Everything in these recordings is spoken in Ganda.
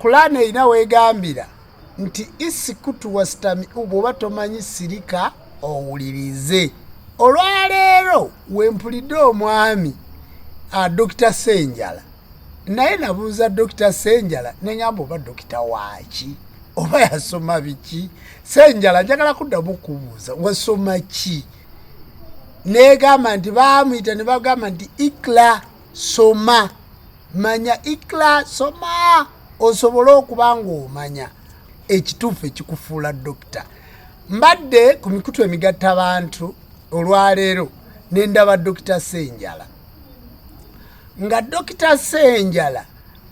Kulaana erina wegambira nti isikutu wasitami bwoba tomanyi sirika owulirize. Olwaleero wempulidde omwami ah, Dokita Senjala naye nabuuza Dokita Senjala nengamba oba dokita waaki oba yasoma biki Senjala njagala kuddamu kubuuza wasoma ki negamba nti baamuyita ne bagamba nti ikla soma manya ikla soma osobole okuba ng'omanya ekituufu ekikufuula dokita mbadde ku mikutu emigatta abantu olwaleero ne ndaba dokita senjala nga dokita senjala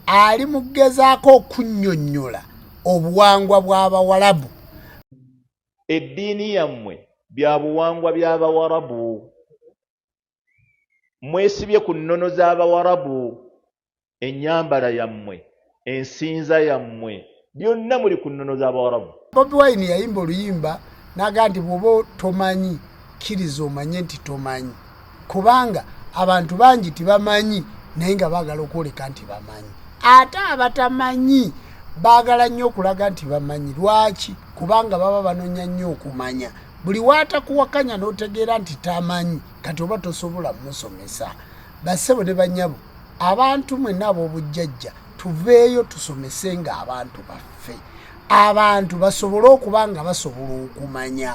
ali mu kugezaako okunnyonnyola obuwangwa bw'abawalabu eddiini yammwe bya buwangwa by'abawarabu mwesibye ku nnono z'abawarabu ennyambala yammwe ensinza yammwe byonna muli ku nnono z'abawarabu bobi wine yayimba oluyimba naga nti bwoba tomanyi kkiriza omanye nti tomanyi kubanga abantu bangi tibamanyi naye nga baagala okwoleka nti bamanyi ate abatamanyi baagala nnyo okulaga nti bamanyi lwaki kubanga baba banonya nnyo okumanya buli watakuwakanya notegeera nti tamanyi kati oba tosobola musomesa basebo ne banyabo abantu mwena abobujjajja tuveeyo tusomese nga abantu baffe abantu basobole okuba nga basobola okumanya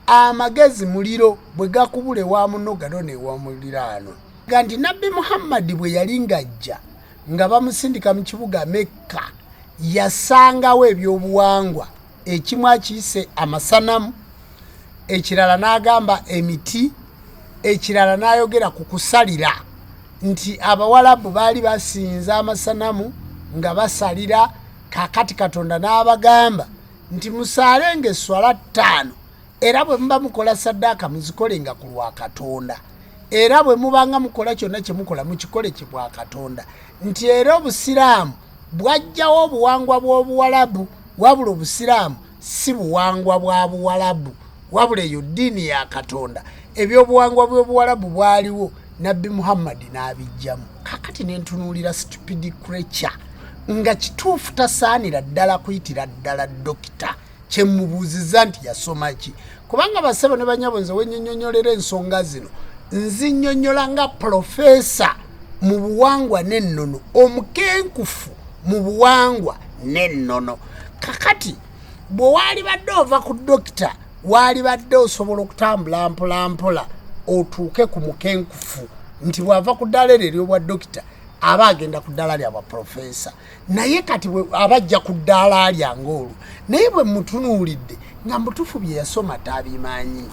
amagezi muliro bwe gakubula ewa muno gano newa muliraano ga nti nabbi muhammadi bwe yali ng'ajja nga bamusindika mu kibuga mekka yasangawo ebyobuwangwa ekimu akiyise amasanamu ekirala n'agamba emiti ekirala n'ayogera ku kusalira nti abawalabu baali basinza amasanamu nga basalira kakati katonda n'abagamba nti musaale nga esswala ttaano era bwe muba mukola saddaaka muzikole nga ku lwa katonda era bwe mubanga mukola kyonna kye mukola mukikole kye bwa katonda nti era obusiraamu bwajjawo obuwangwa bw'obuwalabu wabula obusiraamu si buwangwa bwa buwalabu wabula eyo ddiini ya katonda ebyobuwangwa bw'obuwalabu bwaliwo nabbi muhammadi n'abijjamu kakati nentunuulira stupidi creature nga kituufu tasaanira ddala kuyitira ddala dokita kyemubuuziza nti yasoma ki kubanga basebo ne banyabo nze wenyonyonyolera ensonga zino nzinyonyola nga pulofeesa mu buwangwa n'ennono omukenkufu mu buwangwa n'ennono kakati bwe waali badde ova ku dokita waali badde osobola okutambula mpolampola otuuke ku mukenkufu nti bw'ava ku ddaala eryo eryobwa dokita aba agenda ku ddaala lyabwa pulofeesa naye kati abajja ku ddaala lyange olwo naye bwe mutunuulidde nga mutufu bye yasoma tabimanyi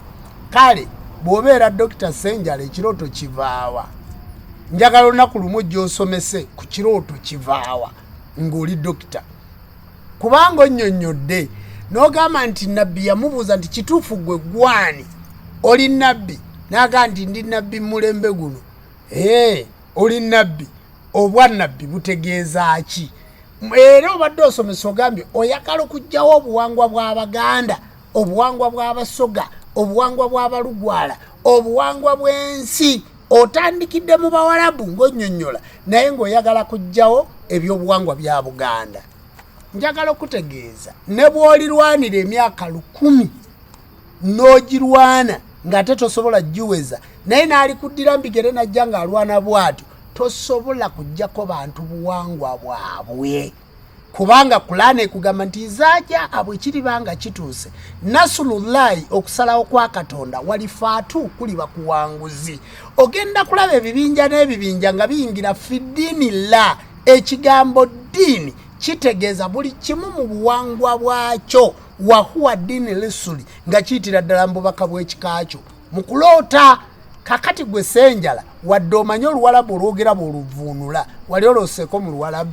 kale bw'obeera dokita senjala ekirooto kivaawa njagala olunaku lumu gy'osomese ku kirooto kivaawa ng'oli dokita kubanga onnyonnyodde n'ogamba nti nabbi yamubuuza nti kituufu gwe gwani oli nabbi n'agamba nti ndi nabbi mulembe guno Hey, oli nabbi obwa nabbi butegeeza ki era obadde osomesa ogambye oyagala okugjawo obuwangwa bw'abaganda obuwangwa bw'abasoga obuwangwa bw'abalugwala obuwangwa bw'ensi otandikidde mu bawalabu ng'onyonyola naye ng'oyagala kugjawo ebyobuwangwa bya buganda njagala okutegeeza ne bw'olirwanira emyaka lukumi n'ogirwana ng'ate tosobola giweza naye n'alikuddira mbigere najja ng'alwana bwatyo tosobola kujjako bantu buwangwa bwabwe kubanga kulaana ekugamba nti zaja abwe kiribanga kituuse nasulullahi okusalawo kwa katonda walifaatu kuliba kuwanguzi ogenda kulaba ebibinja n'ebibinja nga biyingira fidiini la ekigambo ddiini kitegeeza buli kimu mu buwangwa bwakyo wahuwa dini lisuli nga kiyitira ddala mu bubaka bw'ekika kyo mu kuloota kakati gwe senjala wadde omanye oluwalabu olwogerabo oluvuunula wali olooseeko mu luwalabu